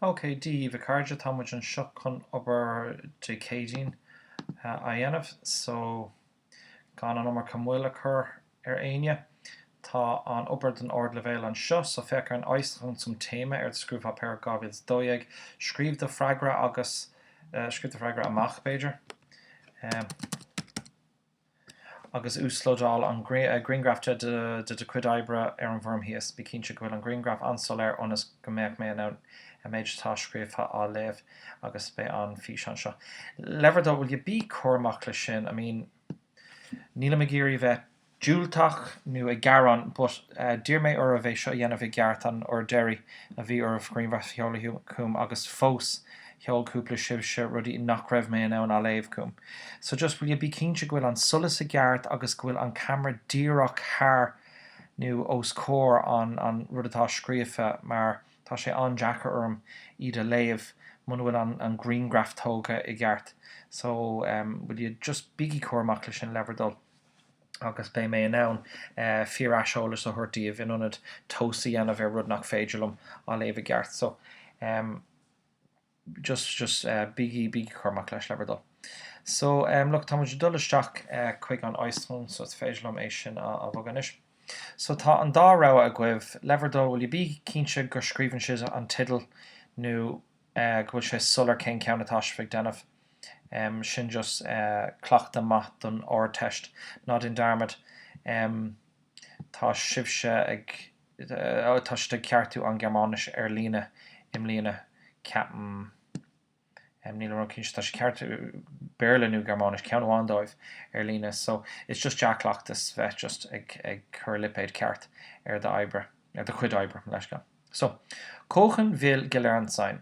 OK, Dia daoibh a chairde, tá muid anseo chun obair Dé Céadaoin a dhéanamh, so gan an iomarca moill a chur ar éinne. Tá an obair den ardleibhéal anseo, so féach ar an Äußerung zum Thema ar do scrúdpháipéar 2012. Scríobh do freagra agus, scríobh do freagra amach b'fhéidir. agus uaslódáil an grianghraf de do chuid oibre ar an bhfoirm thíos. Bí cinnte go bhfuil an grianghraf an-soiléir ionas go mbeadh mé in ann an méid atá scríofa á léamh agus beidh an físeán seo le bhur dtoil will you bí cúramach leis sin I mean nílim ag iarraidh bheith diúltach nó ag gearán but d'iarr mé oraibh é seo a dhéanamh i gceart an uair deiridh a bhí oraibh grianghraf a sheoladh chugam agus fós sheol cúpla sibhse rudaí nach raibh mé in ann a léamh chugam. So just will you bí cinnte go bhfuil an solas i gceart agus go bhfuil an camera díreach thar nó os comhair an an rud atá scríofa mar tá sé an-deacair orm iad a léamh muna bhfuil an an grianghraf tógtha i gceart. So em will you just bígí cúramach leis sin le bhur dtoil agus beidh mé in ann eh fíor aiseolas a thabhairt daoibh in ionad tomhas a dhéanamh ar rud nach féidir liom a léamh i gceart. So em. just just bígí bígí cúramach leis le bhur dtoil. So um look tá muid ag dul isteach chuig an Äußerung so is féidir liom é sin a bhogadh anois. So tá an dá rogha agaibh, le bhur dtoil will you bí cinnte gur scríobhann sibh an teideal nó go bhfuil sé soiléir cén ceann atá sibh ag déanamh um sin just cleachtadh maith don Ardteist. Ná déan dearmad um tá sibhse ag tá siad ag ceartú an Ghearmáinis ar líne i mbliana, ceapaim. Nílim ró-cinnte, tá siad ag ceartú Béarla nó Gearmáinis, ceann amháin dóibh, ar líne, so it's just dea-chleachtas bheith just ag cur lipéad ceart ar do oibre, ar do chuid oibre, mo leithscéal. So, Kochen will gelernt sein.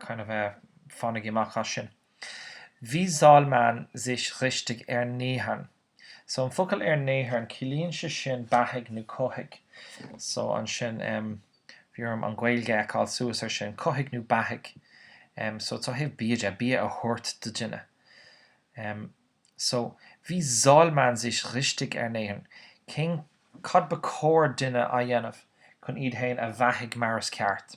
kind of fanaigí amach as sin Wie soll man sich richtig ernähren So an focal ernähren ciallaíonn sé sin beathaigh nó cothaigh So ansin em bhí orm an Ghaeilge a fheiceáil suas ar sin cothaigh nó beathaigh em so it's ó thaobh bia de bia a thabhairt do dhuine em so Wie soll man sich richtig ernähren? cén cad ba chóir duine a dhéanamh chun iad féin a bheathaigh mar is ceart?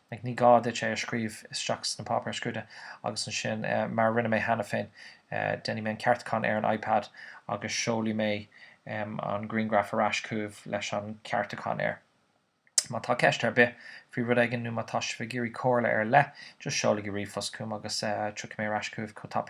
like, ní gá duit é a scríobh isteach sna páipéir scrúdaithe agus ansin, mar a rinne mé cheana féin, déanfaidh mé an ceartúchán ar an iPad agus seolfaidh mé an grianghraf ar ais chugaibh leis an ceartúchán air. Má tá ceist ar bith faoi rud éigin nó má tá sibh ag iarraidh comhairle ar leith, just seolaigí ríomhphost chugam agus tiocfaidh mé ar ais chugaibh chomh tapaidh agus.